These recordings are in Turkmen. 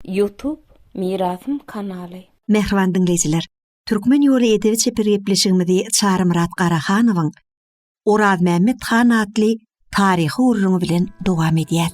Ýutub Mirasym kanaly. Mähriban diňleýjiler! Türkmen ýoly edebi-çeper gepleşigimizi Çarymyrat Garahanowyň Orazmämmet han atly taryhy gürrüňi bilen dowam edýäs.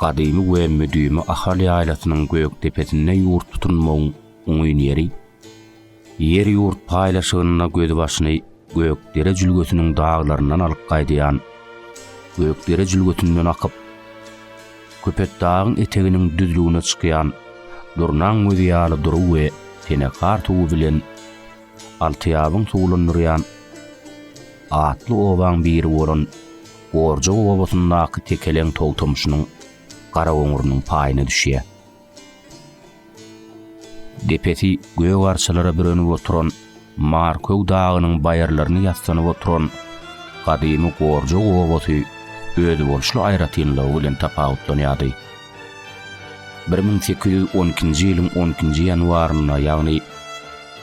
Gadymy we müdimi Ahal ýaýlasynyň gök depesinde ýurt tutunmagyň oňyn ýeri, ýer-ýurt paýlaşygynda gözbaşyny Gökdere jülgesiniň daglaryndan alyp gaýdýan Gökdere jülgesinden akyp, Köpetdagyň eteginiň düzlügine çykýan Durnaň gözi ýaly dury we tenekar suwy bilen Altyýabyň suwlandyrýan atly obaň biri bolan Gorjy obasyndaky Tekeleň togtamşynyň Garagoňurynyň paýyna düşýär. Depesi gök arçalara bürenip oturan Marköw dagynyň baýyrlaryny ýassanyp oturan gadymy Gorjy obasy özboluşly aýratynlygy bilen tapawutlanýardy. Bir müň sekiz ýüz on ikinji ýylyň on ikinji ýanwarynda, ýagny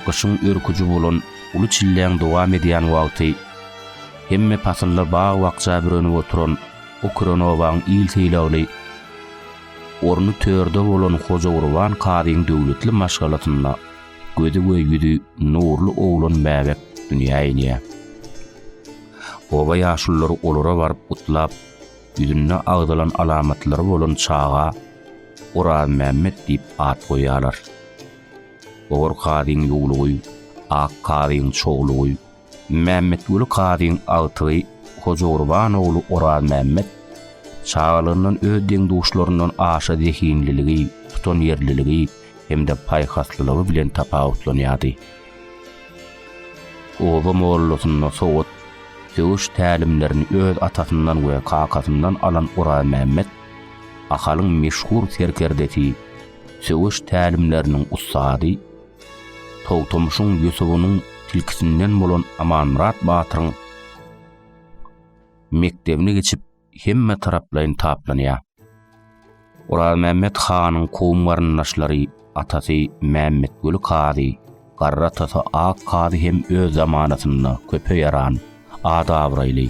gyşyň örküji bolan uly çilläň dowam edýän wagty, Hemme pasylda bag-bakja bürenip oturan Ukronowaň il sylagly orny törde bolan Hojagurban kazyň döwletli maşgalasynda gözi we ýüzi nurly oglan bäbek dünýä inýär. Oba ýaşululary olara baryp gutlap, ýüzünde agzalan alamatlary bolan çaga Orazmämmet diýip at goýýarlar. Ogur kazyň ýuwlugy, ak kazyň çoglugy, Mämmetguly kazyň agtygy Hojagurban ogly Orazmämmet çagalygyndan öz deň-duşlaryndan aşa zehinliligi, tutanýerliligi hem-de paýhaslylygy bilen tapawutlanýardy. Oba mollasynda sowat, söweş tälimlerini öz atasyndan we kakasyndan alan Orazmämmet Ahalyň meşhur serkerdesi, söweş tälimleriniň ussady, Togtamyşyň Ýusubynyň tilkisinden bolan Amanmyrat batyryň mekdebini geçip hemme taraplaýyn taplanýar. Orazmämmet hanyň kowum garyndaşlary atasy Mämmetguly kazy, garry atasy Ak kazy hem öz zamanasynda köpe ýaran, at-abraýly,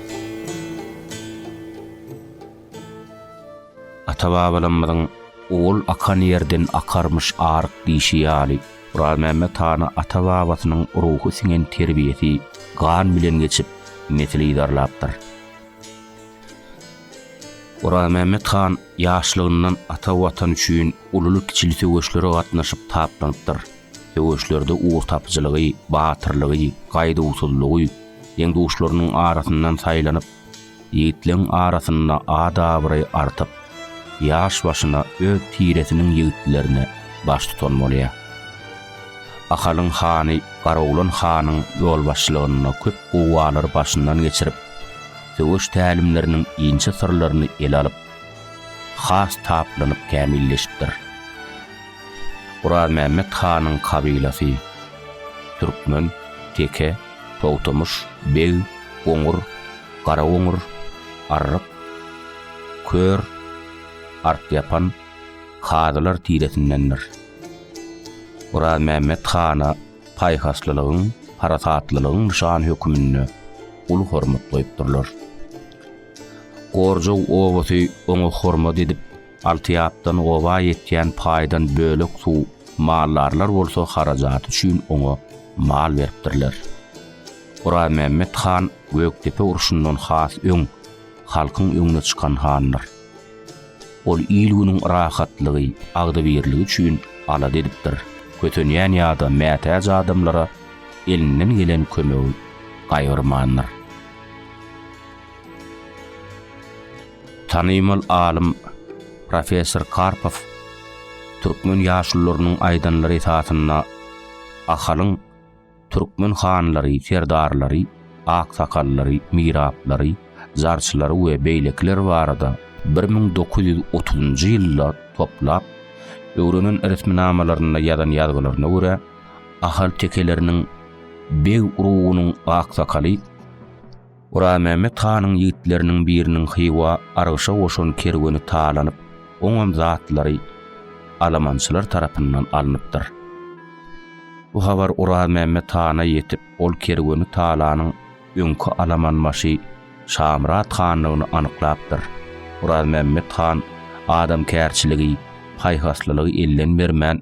Ata-babalarymyzyň Ol akan ýerden akarmyş aryk diýşi ýaly, Orazmämmet hana ata-babasynyň ruhy siňen terbiýesi gan bilen geçip, nesil yzarlapdyr. Orazmämmet han ýaşlygyndan ata Watan üçin ululy-kiçili söweşlere gatnaşyp taplanypdyr. Söweşlerde ugurtapyjylygy, batyrlygy, gaýduwsyzlygy, deň-duşlarynyň arasyndan saýlanyp, ýigitleň arasynda at-abraý artyp, ýaş başyna öz tiresiniň ýigitlerine baştutan bolýar. Ahalyň hany Garoglan hanyň ýolbaşçylygynda köp guwwalary başyndan geçirip, söweş tälimleriniň inçe syrlaryny ele alyp, has taplanyp kämilleşipdir. Orazmämmet hanyň kabylasy, türkmen, teke, togtamyş, beg, goňur, garagoňur, arryk, kör, artýapan, hazylar tiresindendir. Orazmämmet hana paýhaslylygyň, parasatlylygyň nyşany höküminde uly hormat goýupdyrlar. Gorjow obasy oňa hormat edip, Altyapdan oba ýetýän paýdan bölek suw maldarlar bolsa harajaty üçin oňa mal beripdirler. Oraýmämmet han Gökdepe urşundan has öň, halkyň öňüne çykan handyr. Ol il-günüň rahatlygy, agzybirligi üçin alada edipdir, kösenýän ýa-da mätäç adamlara elinden gelen kömegi gaýgyrmandyr. Tanymal alym, professor Karpow türkmen ýaşulularynyň aýdanlary esasynda Ahalyň türkmen hanlary, serdarlary, aksakallary, miraplary, zarçylary we beýlekiler barada bir müň dokuz ýüz otuzynjy ýylda toplap öwrenen resminamalarynda ýazan ýazgylaryna görä, Ahal tekeleriniň beg urugynyň aksakaly, Guramämmet hanyň ýigitleriniň biriniň Hywa argyşa goşan kerweni talanyp, oňam zatlary alamançylar tarapyndan alnypdyr. Bu habar Guramämmet hana ýetip, ol kerweni talanyň öňki alamanbaşy Şamyrat handygyny anyklapdyr. Guramämmet han adamkärçiligi, paýhaslylygy elden bermän,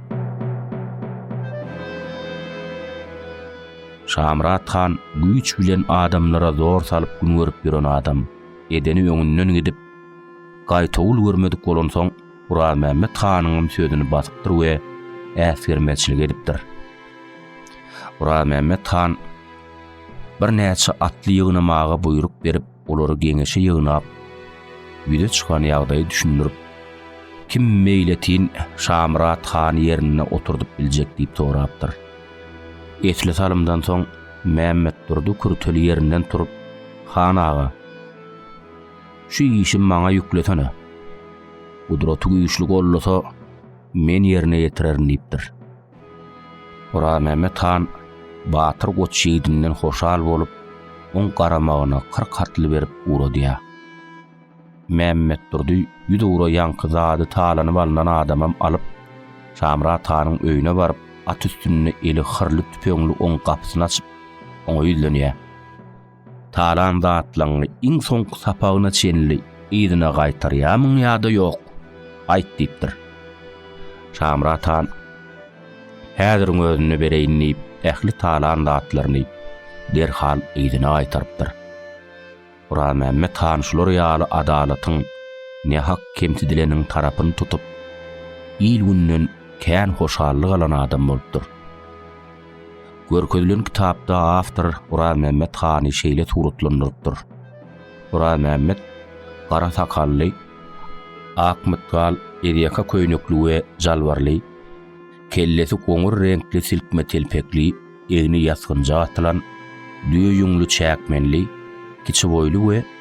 Şamyrat han güýç bilen adamlara zor salyp gün görüp ýören adam. Edeni öňünden gidip, gaýtawul görmedik bolansoň, Orazmämmet hanyňam sözüni basypdyr we äsgermezçilik edipdir. Orazmämmet han birnäçe atly ýygnamaga buýruk berip, olary geňeşe ýygnap, ýüze çykan ýagdaýy düşündirip, kim meýletin Şamyrat hany ýerinde oturdyp biljek diýip sorapdyr. Esli salymdan soň Mämmetdurdy kürteli ýerinden turup, Han aga, şu işi maňa ýüklesene. Gudraty güýçli gollasa, men ýerine ýetirerin diýipdir. Orazmämmet han Batyr goç ýigidinden hoşal bolup, oň garamagyna kyrk atly berip ugradýar. Mämmetdurdy ýüz ugra ýaňky zady talanyp alnan adamam alyp, Şamyrat hanyň öýüne baryp, at üstünde eli hyrly tüpeňli oň gapysyny açyp, oňa ýüzlenýär. Talan zatlaňňy iň soňky sapagyna çenli yzyna gaýtarýarmyň ýa-da ýok? Aýt diýipdir. Şamyrat han, Häziriň özünde bereýin diýip, ähli talan zatlaryny derhal yzyna gaýtarypdyr. Guralmämmet han şular ýaly adalatyň nähak kemsidileniň tarapyny tutup, il-günden kän hoşallyk alan adam bolupdyr. Görkezilen kitapda awtor Guranmämmet hany şeýle suratlandyrypdyr. Guranmämmet gara sakally, ak mytgal ezýaka köýnekli we jalbarly, kellesi goňur reňkli silkme telpekli, egni ýasgynja atylan, düýe ýüňli çäkmenli, kiçi boýly we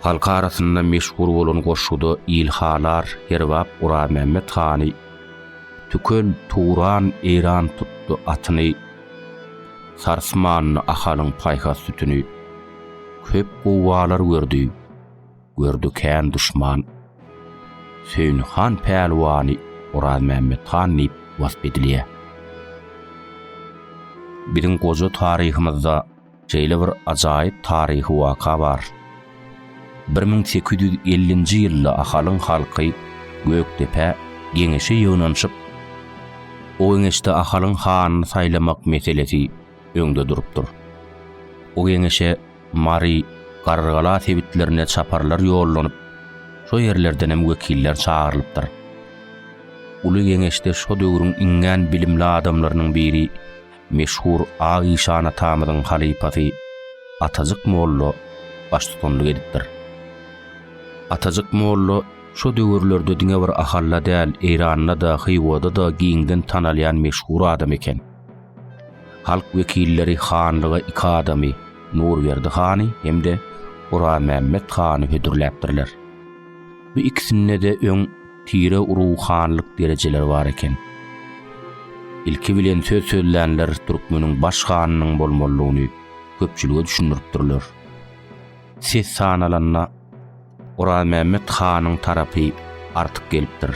Halk arasynda meşhur bolan goşguda Ilhalar Herbap Guranmämmet hany Tükel Turan Eýran tutdy atyny Sarsmandy Ahalyň paýhas sütüni Köp gowgalar gördi, gördi kän duşman Söýni han pälwany Orazmämmet han diýip wasp edilýär. Biziň goja taryhymyzda Şeýle bir ajaýyp taryhy waka bar. Bir müň sekiz ýüz ellinji ýylda Ahalyň halky Gökdepä geňeşe ýygnanyşyp, o geňeşde Ahalyň hanyny saýlamak meselesi öňde durupdyr. O geňeşe Mary, Garrygala sebitlerine çaparlar ýollanyp, şo ýerlerdenem wekiller çagyrylypdyr. Uly geňeşde şo döwrüň iňňän bilimli adamlarynyň biri, meşhur Ak işan atamyzyň halypasy Atajyk molla baştutanlyk edipdir. Atajyk molla şo döwürlerde diňe bir Ahalla däl, Eýranda-da, Hywada-da giňden tanalýan meşhur adam eken. Halk wekilleri hanlyga iki adamy, Nurberdi hany hem-de Oramämmet hany hödürläpdirler. Bu ikisinde-de öň tire ruhanylyk derejeleri bar eken. Ilki bilen söz sözlänler türkmeniň baş hanynyň bolmalydygyny köpçülige düşündiripdirler. Ses sanalanda Orazmämmet hanyň tarapy artyk gelipdir.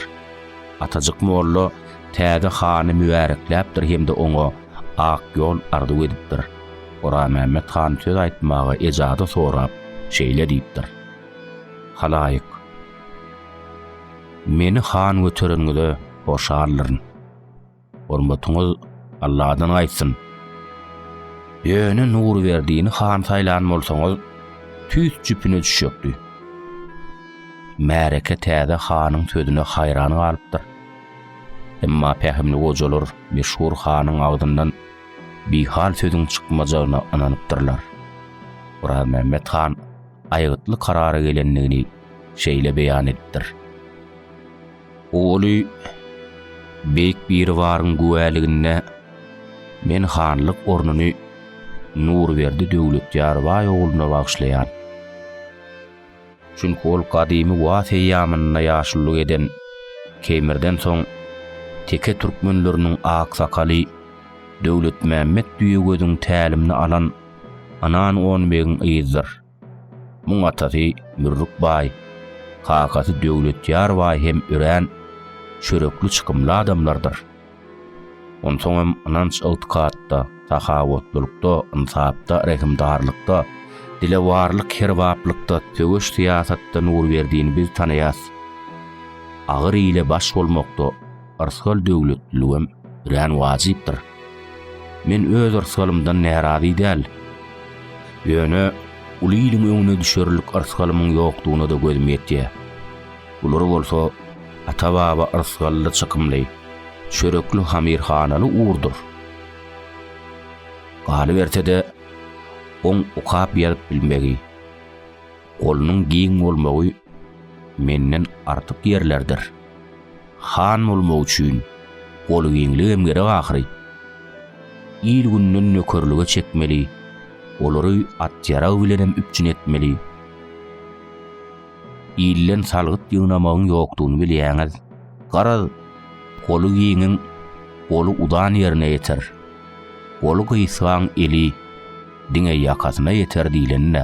Atajyk molla täze hany mübärekläpdir hem-de oňa ak ýol arzuw edipdir. Orazmämmet han söz aýtmaga ejazy sorap, şeýle diýipdir. Halaýyk, meni han götereniňize hoşaldyryn. Hormatyňyz Alladan gaýtsyn. Ýöne Nurberdini han saýlan bolsaňyz, tüýs jüpüne düşjekdi. Märeke täze hanyň sözüne haýran galypdyr. Emma pähimli gojalar meşhur hanyň agzyndan bihal sözüň çykmajagyna ynanypdyrlar. Orazmämmet han aýgytly karara gelendigini şeýle beýan edipdir. Oguly Beýik Biribaryň güwäliginde men hanlyk ornuny Nurberdi Döwletýarbaý ogluna bagyşlaýan. Çünki ol gadymy Waz eýýamynda ýaşulyk eden Keýmirden soň teke türkmenleriniň aksakaly Döwletmämmet Düýegöziň tälimini alan Anan on begiň yzdyr. Muň atasy Mürrük baý, kakasy Döwletýar baý hem örän çörekli çykymly adamlardyr. Onsoň hem ynanç ygtykatda, sahawatlylykda, ynsapda, rehimdarlykda, dilewarlyk herbaplykda, söweş syýasatda Nurberdini biz tanaýas. Agyr ile baş bolmakda. Yrsgal döwletliligem örän wajypdyr. Men öz yrsgalymdan närazy däl. Ýöne uly iliň öňüne düşerlik yrsgalymyň ýokdugyna-da gözüm ýetýär. Bular bolsa ata-baba yrsgally çykymly, çörekli hamirhanaly ugurdyr. Galyberse-de, oň okap-ýazyp bilmegi, golunyň giň bolmagy menden artyk ýerlerdir. Han bolmak üçin goly giňligem gerek ahyry. Il-günden nökerlige çekmeli, olary at-ýarag bilenem üpjün etmeli. Ilden salgyt ýygnamagyň ýokdugyny bilýäňiz. Garaz, goly giňiň goly udan ýerine ýeter, goly gysgaň eli diňe ýakasyna ýeter diýlen-dä.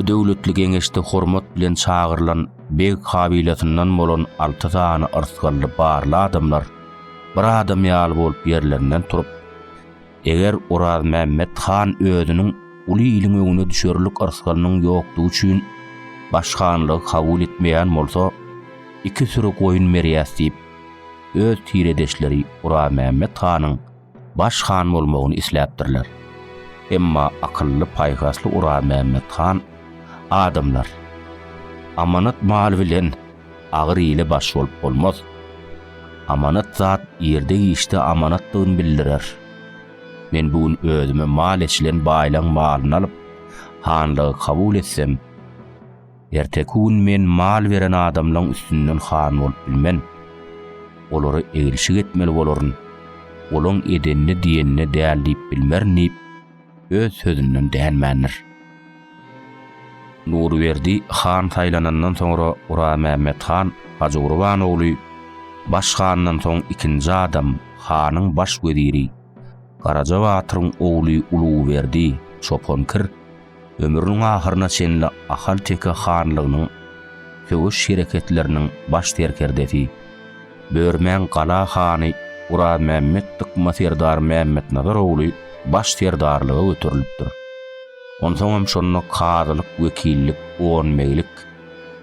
Bu döwletli geňeşde hormat bilen çagyrylan beg kabilasyndan bolan alty sany yrsgally barly adamlar bir adam ýaly bolup ýerlerinden turup, Eger Orazmämmet han özüniň uly iliň öňüne düşerlik yrsgalynyň ýokdugy üçin baş hanlygy kabul etmeýän bolsa, iki süri goýun berýäs diýip, öz tiredeşleri Orazmämmet hanyň baş han bolmagyny isläpdirler. Emma akylly-paýhasly Orazmämmet han, Adamlar, amanat mal bilen Agyr ile baş bolup bolmaz. Amanat zat ýerde-giçde amanatdygyny bildirer. Men bu gün özüme mal eçilen baýlaň malyny alyp, hanlygy kabul etsem, erteki gün men mal beren adamlaň üstünden han bolup bilmen. Olara egilşik etmeli bolaryn. Olaň edenini diýenine däl diýip bilmerin diýip, öz sözünden dänmändir. Nurberdi han saýlanandan soňra Guramämmet han Hajygurban ogly baş handan soň ikinji adam hanyň baş weziri Garaja batyryň ogly Uluberdi çopan kir ömrüniň ahyryna çenli Ahal teke hanlygynyň söweş hereketleriniň baş serkerdesi Börmäň gala hany Orazmämmet dykma serdar Mämmetnazar ogly baş serdarlyga göterilipdir. Onsoňam şonda kazylyk, wekillik, onbeglik,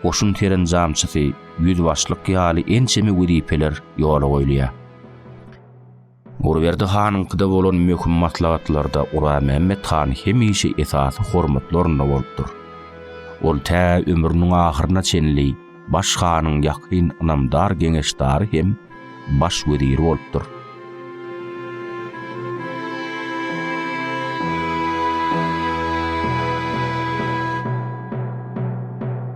goşun serenjamçysy, ýüzbaşlyk ýaly ençeme wezipeler ýola goýulýar. Gurberdi hanyňkyda bolan möhüm maslahatlarda Guramämmet han hemişe esasy hormatly orunda bolupdyr. Ol tä ömrüniň ahyryna çenli baş hanyň ýakyn ynamdar geňeşdary hem baş weziri bolupdyr.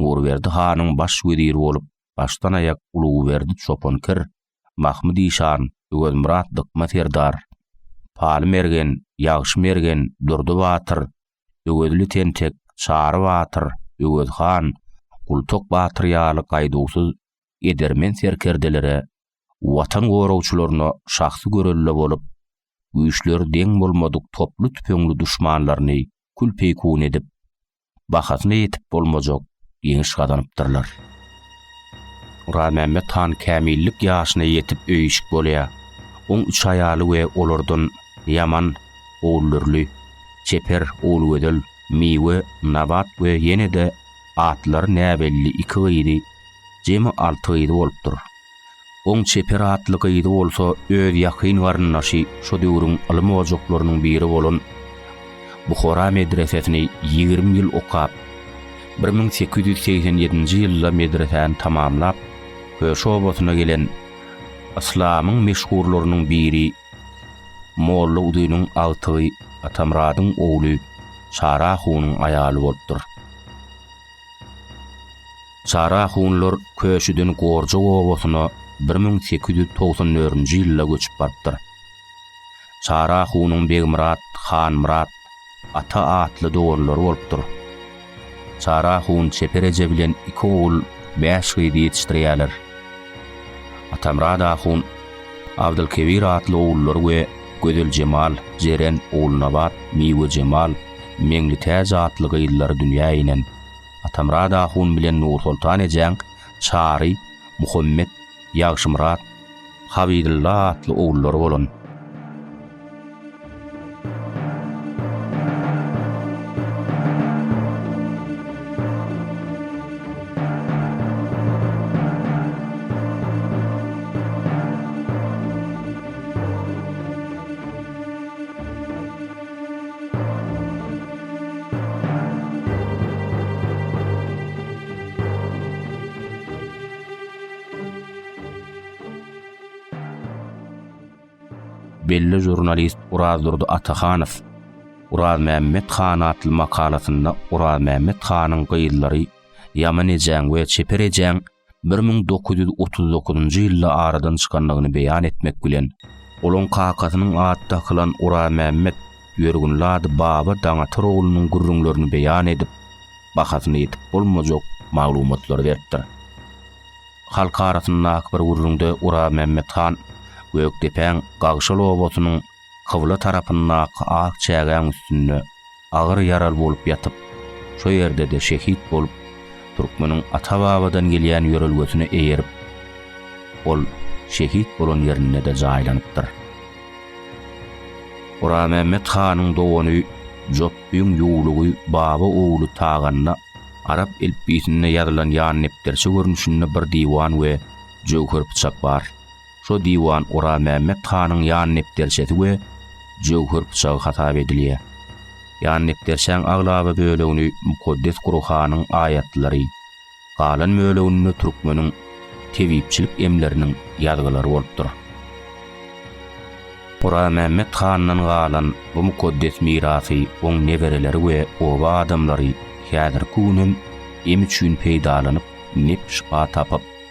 Nurberdi hanyň baş weziri bolup başdan-aýak Uluberdi Çopankir, Mahmyt işan, Öwezmyrat Dykma serdar, Paly mergen, Ýagşy mergen, Durdy batyr, Öwezli tentek, Çary batyr, Öwez han, Gultok batyr ýaly gaýduwsyz edermen serkerdelere, Watan goragçylaryna şahsy görelde bolup, güýçleri deň bolmadyk toply-tüpeňli duşmanlaryny kül-peýkun edip, bahasyna ýetip bolmajak ýeňiş gazanypdyrlar. Nuramämmet han kämillik ýaşyna ýetip öýüşik bolýar. Oň üç aýaly we olardan Ýaman, Ogulürli, Çeper, Ogulgözel, Miwe, Nabat we ýene-de atlary näbelli iki gyzy, jemi alty gyzy bolupdyr. Oň çeper atly gyzy bolsa öz ýakyn garyndaşy şo döwrüň ylym ojaklarynyň biri bolan Buhara medresesini ýigrimi ýyl okap, bir müň sekiz ýüz segsen ýedinji ýylda medresäni tamamlap, Köşe obasyna gelen yslamyň meşhurlarynyň biri Molla Uzynyň agtygy Atamyradyň ogly Çara hunyň aýaly bolupdyr. Çara hunlar Köşüden Gorjak obasyna bir müň sekiz ýüz togsan dördünji ýylda göçüp barypdyr. Çara hunuň Begmyrat, Hanmyrat, Ata atly doganlary bolupdyr. Çara hun Çeper eje bilen iki ogul, bäş gyz ýetişdirýärler. Atamyrat ahun Abdylkebir atly ogullary we Gözeljemal, Jeren, Ogulnabat, Miwejemal, Meňlitäç atly gyzlary dünýä inen. Atamyrat ahun bilen Nursoltan ejäň Çary, Muhammet, Ýagşymyrat, Habydylla atly ogullary bolan. belli žurnalist Urazdurdy Atahanow Urazmämmet han atly makalasynda Urazmämmet hanyň gyzlary Ýaman ejäň we Çeper ejäň bir müň dokuz ýüz otuz dokuzynjy ýylda aradan çykandygyny beýan etmek bilen, olaň kakasynyň at dakylan Oramämmet ýörgünli ady Baba Daňatyroglunun gürrüňlerini beýan edip, bahasyna ýetip bolmajak maglumatlary beripdir. Halk arasyndaky bir gürrüňde Oramämmet han Gökdepäň Gagşal obasynyň kybla tarapyndaky ak çägäň üstünde agyr ýaraly bolup ýatyp, şo ýerde-de şehit bolup, türkmeniň ata-babadan gelýän ýörelgesine eýerip, ol şehit bolan ýerinde-de jaýlanypdyr. Oramämmet hanyň dogany Jopbüň ýuwlugy Baba ogly Tagana arap elipbiýsinde ýazylan ýandepderçe görnüşinde bir diwan we jöwher pyçak bar. Şo diwan Oramämmet hanyň ýandepderçesi we jöwher pyçagy hasap edilýär. Ýandepderçäň aglaba bölegini Mukaddes Gurhanyň aýatlary, galan böleginde türkmeniň tebipçilik emleriniň ýazgylary bolupdyr. Oramämmet handan galan bu mukaddes mirasy oň nebereleri we oba adamlary häzirki gün hem em üçin peýdalanyp, nep-şypa tapyp,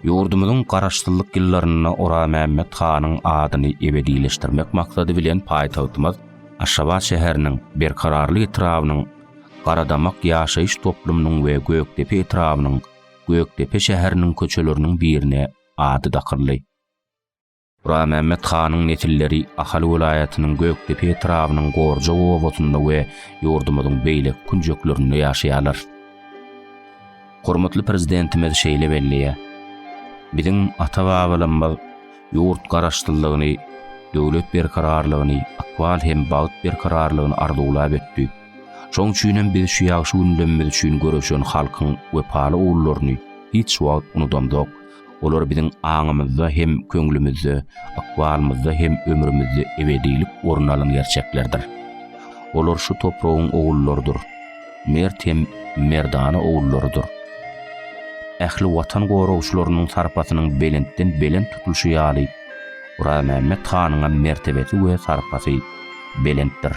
Ýurdumyzyň Garaşsyzlyk ýyllarynda Oramämmet hanyň adyny ebedileşdirmek maksady bilen paýtagtymyz Aşgabat şäheriniň Berkararly etrabynyň Garadamak ýaşaýyş toplumynyň we Gökdepe etrabynyň Gökdepe şäheriniň köçeleriniň birine ady dakyldy. Burammämmet hanyň nesilleri Ahal welaýatynyň Gökdepe etrabynyň Gorja obasynda we ýurdumyzyň beýleki künjeklerinde ýaşaýarlar. Hormatly Prezidentimiz şeýle belleýär, Biziň ata-babalarymyz ýurt Garaşsyzlygyny, döwlet berkararlygyny, ykbal hem bagt berkararlygyny arzuwlap ötdi. Şoň üçin hem biz şu ýagşy gündemimiz üçin göreşen halkyň wepaly ogullaryny hiç wagt unudamzok. Olar biziň aňymyzda hem köňlümizde, ykbalymyzda hem ömrümizde ebedilik orun alan gerçeklerdir. Olar şu topragyň ogullarydyr. Mert hem merdana ogullarydyr. Ähli Watan goragçylarynyň sarpasynyň belentden belent tutulşy ýaly, Orazmämmet hanyňam mertebesi we sarpasy belentdir.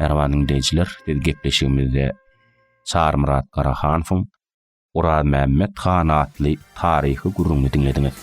Merhaba diňleýjiler, biz gepleşigimizde Çarymyrat Garahanowyň Orazmämmet han atly taryhy gürrüňini diňlediňiz.